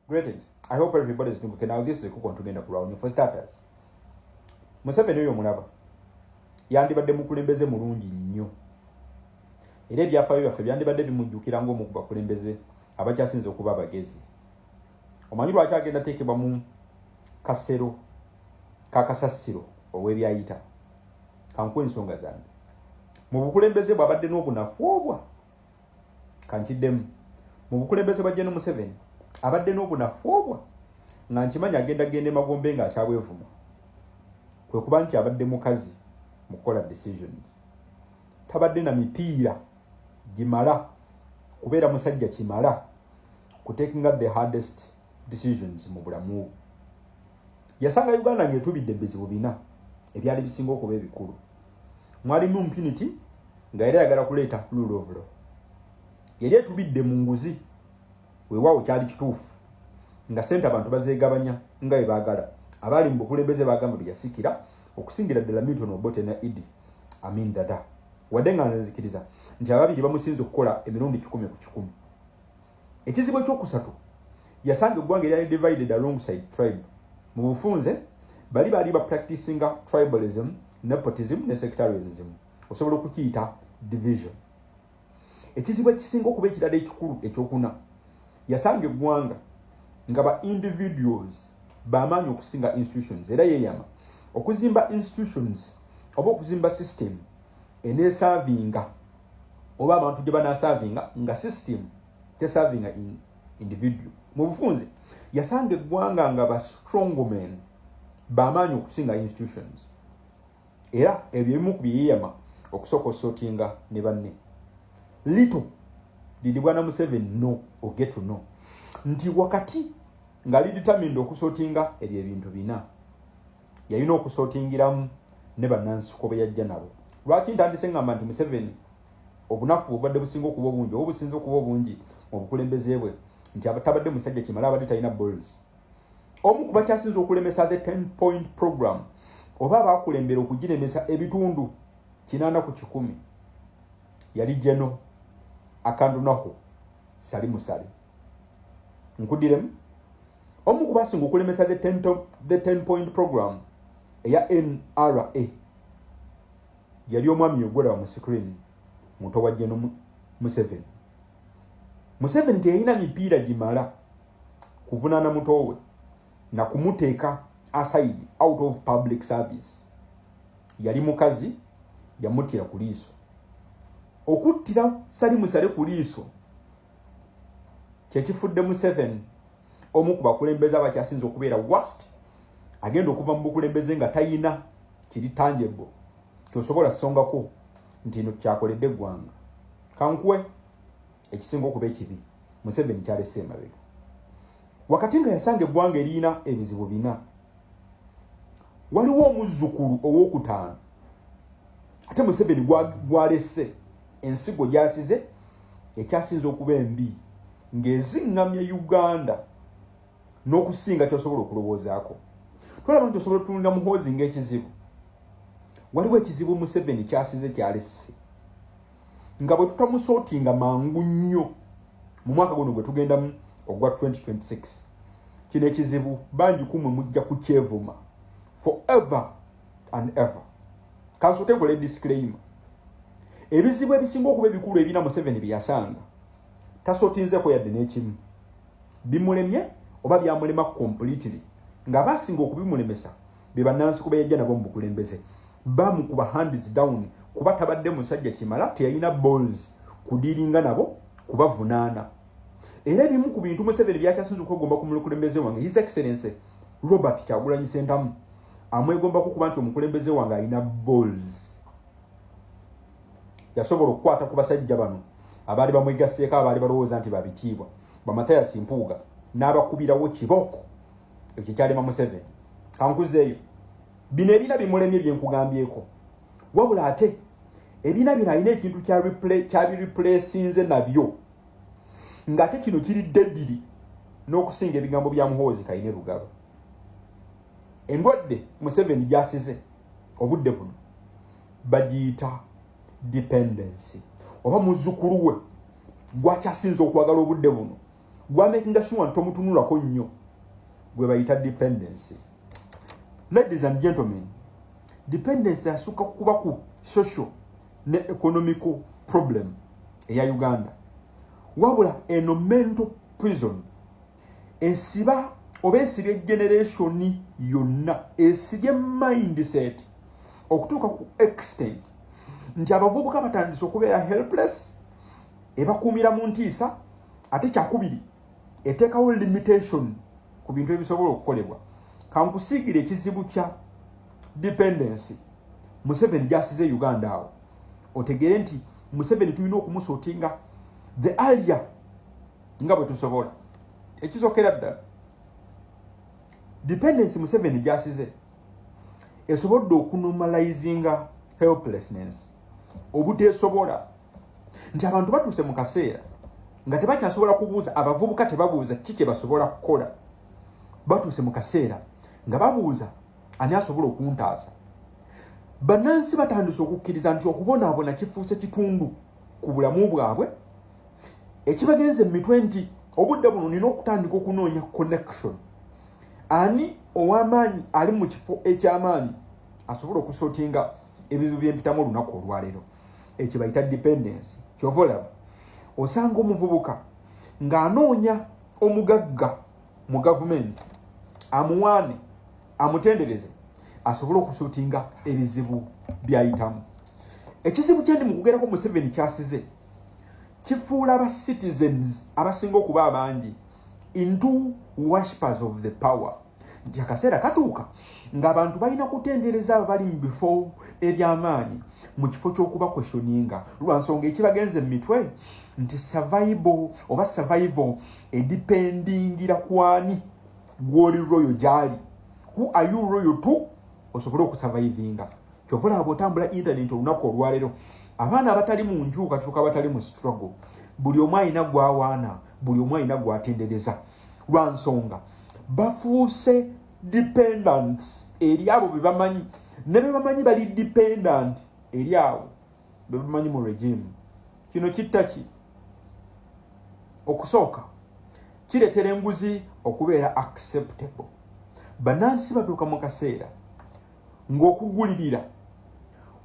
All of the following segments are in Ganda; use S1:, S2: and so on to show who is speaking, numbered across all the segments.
S1: Greetings. I hope everybody is doing okay. Now this is Kuko Ntugenda Kurawuni. For starters, Museveni oyo mulaba yandibadde mukulembeze mulungi nnyo era ebyafaayo byaffe byandibadde bimujjukira ng'omu ku bakulembeze abakyasinze okuba abagezi omanyi lwaki agenda teekebwa mu kasero kakasasiro ow'ebyayita kankuwa ensonga zange mu bukulembeze bwabadde n'obunafu obwa kankiddemu mu bukulembeze bwa Gen Museveni abadde n'obunafu obwa nga nkimanyi agenda genda emagombe nga akyabwevuma kwe kuba nti abadde mukazi mu kukola decisions tabadde na mipiira gimala kubeera musajja kimala kutekinga the hardest decisions mu bulamu bwe yasanga uganda ng'etubidde bizibu bina ebyali bisinga okuba ebikulu mwalimu impunity nga yali ayagala kuleeta rule of law yali etubidde mu nguzi weewaawo kyali kituufu nga sente abantu bazeegabanya nga bwe baagala abaali mu bukulembeze baagamba bye yasikira okusingira ddala milton obote na idi amin dada wadde nga nzikiriza nti ababiri bamusinza okukola emirundi kikumi ku kikumi Ekizibu ekyokusatu yasanga eggwanga eryali divided alongside tribe mu bufunze bali baali ba practicinga tribalism nepotism ne sectarianism osobola okukiyita division ekizibu ekisinga okuba ekirala ekikulu ekyokuna yasanga eggwanga nga ba individuals bamaanyi okusinga institutions era yeyama okuzimba institutions oba okuzimba system enesavinga oba abantu gye banasavinga nga system tesavinga in individual mu bufunze yasanga eggwanga nga ba strongmen bamaanyi okusinga institutions era ebyo ebimu ku byeyeyama okusooka osotinga ne banne little didi bwana museven no ogetu no nti wakati nga lidetermined okusotinga ebyo ebintu bina yalina okusotingiramu ne bannansiko be yajja nabo lwaki ntandise ngamba nti museveni obunafu obubadde businga okuba obungi oba obusinza okuba obungi mu bukulembeze bwe nti abatabadde musajja kimala abadde talina bols omu ku bakyasinza okulemesa the ten point program oba abakulembera okugiremesa ebitundu kinaana ku kikumi yali jeno akandunaho sali musale nkudiremu omu ku basinga okulemesa the ten, the ten point program eya nra yali omwami yogwera mu screen muto wa jeno museveni museveni teyalina mipiira gimala kuvunaana mutowe na kumuteeka aside out of public service yali mukazi yamuttira ku liiso okuttira salimusale ku liiso kyekifudde museveni omu ku bakulembeze abakyasinza okubeera wast agenda okuva mu bukulembeze nga tayina kiri tanjebo kyosobola songako nti no kyakoledde eggwanga kankuwe ekisinga okuba ekibi museveni kyalese emabega wakati nga yasanga eggwanga erina ebizibu bina waliwo omuzzukulu owokutaano ate museveni gwalese ensigo gyasize ekyasinza okuba embi ng'eziŋŋamya uganda n'okusinga kyosobola okulowoozaako tolaba nti osobola otunulira muhoozi ng'ekizibu waliwo ekizibu museveni kyasize kyalesse nga bwe tutamusootinga mangu nnyo mu mwaka guno gwe tugendamu ogwa 2026 kino ekizibu bangi kumwe mujja kukyevuma forever and ever kansote nkole disclaimer ebizibu ebisinga okuba ebikulu ebina museveni byeyasanga tasotinzeko yadde n'ekimu bimulemye oba byamulema completely ng'aba asinga okubimulemesa be bannansi kuba yajja nabo mu bukulembeze bamukuba hands down kuba tabadde musajja kimala teyalina balls kudiringa nabo kubavunaana era ebimu ku bintu museveni byakyasinza okwegomba ku mukulembeze wange his excellency robert kyagulanyi sentamu amwegombako kuba nti omukulembeze wange alina balls yasobola okukwata ku basajja bano abaali bamwegasseeko abaali balowooza nti babitiibwa bamatayasi mpuuga n'abakubirawo kibooko ekyo kyalema museveni kankuzeeyo bino ebina bimulemye byenkugambyeko wabula ate ebina bino alina ekintu kyabireplasinze nabyo nga ate kino kiri dediri n'okusinga ebigambo bya muhoozi kaine lugaba endwadde museveni gyasize obudde buno bagiyita dependency oba muzukulu we gwakyasinza okwagala obudde buno gwamakinga sure nti tomutunulako nnyo gwe bayita dependency ladies and gentlemen dependency asukka kukuba ku social ne economical problem eya uganda wabula eno mental prison esiba oba esibye generation yonna esibye mindset okutuuka ku extent nti abavubuka batandise okubeera helpless ebakuumira mu ntiisa ate kyakubiri eteekawo limitation ku bintu ebisobola okukolebwa kankusiigire ekizibu kya dependency museveni gyasize e uganda awo otegeere nti museveni tulina okumusuutinga the alia nga bwe tusobola ekisokera ddala dependency museveni gyasize esobodde okunomalizinga helplessness obuteesobola nti abantu batuuse mu kaseera nga tebakyasobola kubuuza abavubuka tebabuuza kiki kyebasobola kukola batuuse mu kaseera nga babuuza ani asobola okuntaasa bannansi batandise okukkiriza nti okubonaabona kifuuse kitundu ku bulamu bwabwe ekibagenze mu mitwe nti obudde buno nina okutandika okunoonya connection ani ow'amaanyi ali mu kifo eky'amaanyi asobola okusotinga ebizibu byempitamu olunaku olwaleero ekyo bayita dependensi kyova olaba osanga omuvubuka ng'anoonya omugagga mu gavumenti amuwaane amutendereze asobole okusuutinga ebizibu byayitamu ekizibu kyendi mu kugerako museveni kyasize kifuula aba citizens abasinga okuba abangi into worshipers of the power nti akaseera katuuka ng'abantu balina kutendereza abo bali mu bifo eby'amaanyi mu kifo ky'okuba kwesyoninga lwa nsonga ekibagenze mu mitwe nti savaibo oba savaivo edipendingira kwani gw'oli royo gy'ali who are you royo to osobole okusavaivinga kyova olaba bw'otambula intaneti olunaku olwaleero abaana abatali mu njuukakyuka abatali mu struggle buli omu alina gwawaana buli omu alina gwatendereza lwa nsonga bafuuse dependants eri abo be bamanyi ne be bamanyi bali dependant eri abo be bamanyi mu regime kino kitta ki okusooka kireetera enguzi okubeera acceptable bannansi batuuka mu kaseera ng'okugulirira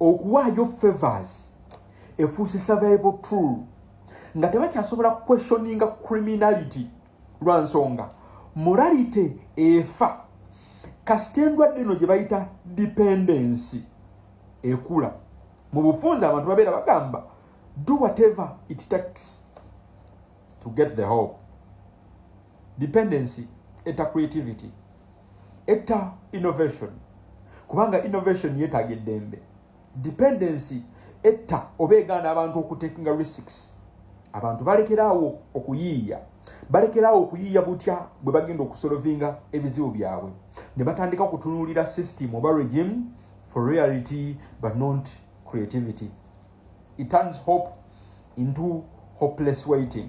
S1: okuwaayo favors efuuse survival tool nga tebakyasobola questioninga criminality lwa nsonga morality efa kasita endwadde eno gye bayita dependency ekula mu bufunza abantu babeera bagamba do whatever it takes to get the hope dependency eta creativity etta innovation kubanga innovation yetaaga eddembe dependency etta oba egaana abantu okutekinga risks abantu balekeraawo okuyiiya balekeraawo okuyiiya butya bwe bagenda okusolovinga ebizibu byabwe ne batandika okutunuulira system oba regime for reality but not creativity it turns hope into hopeless waiting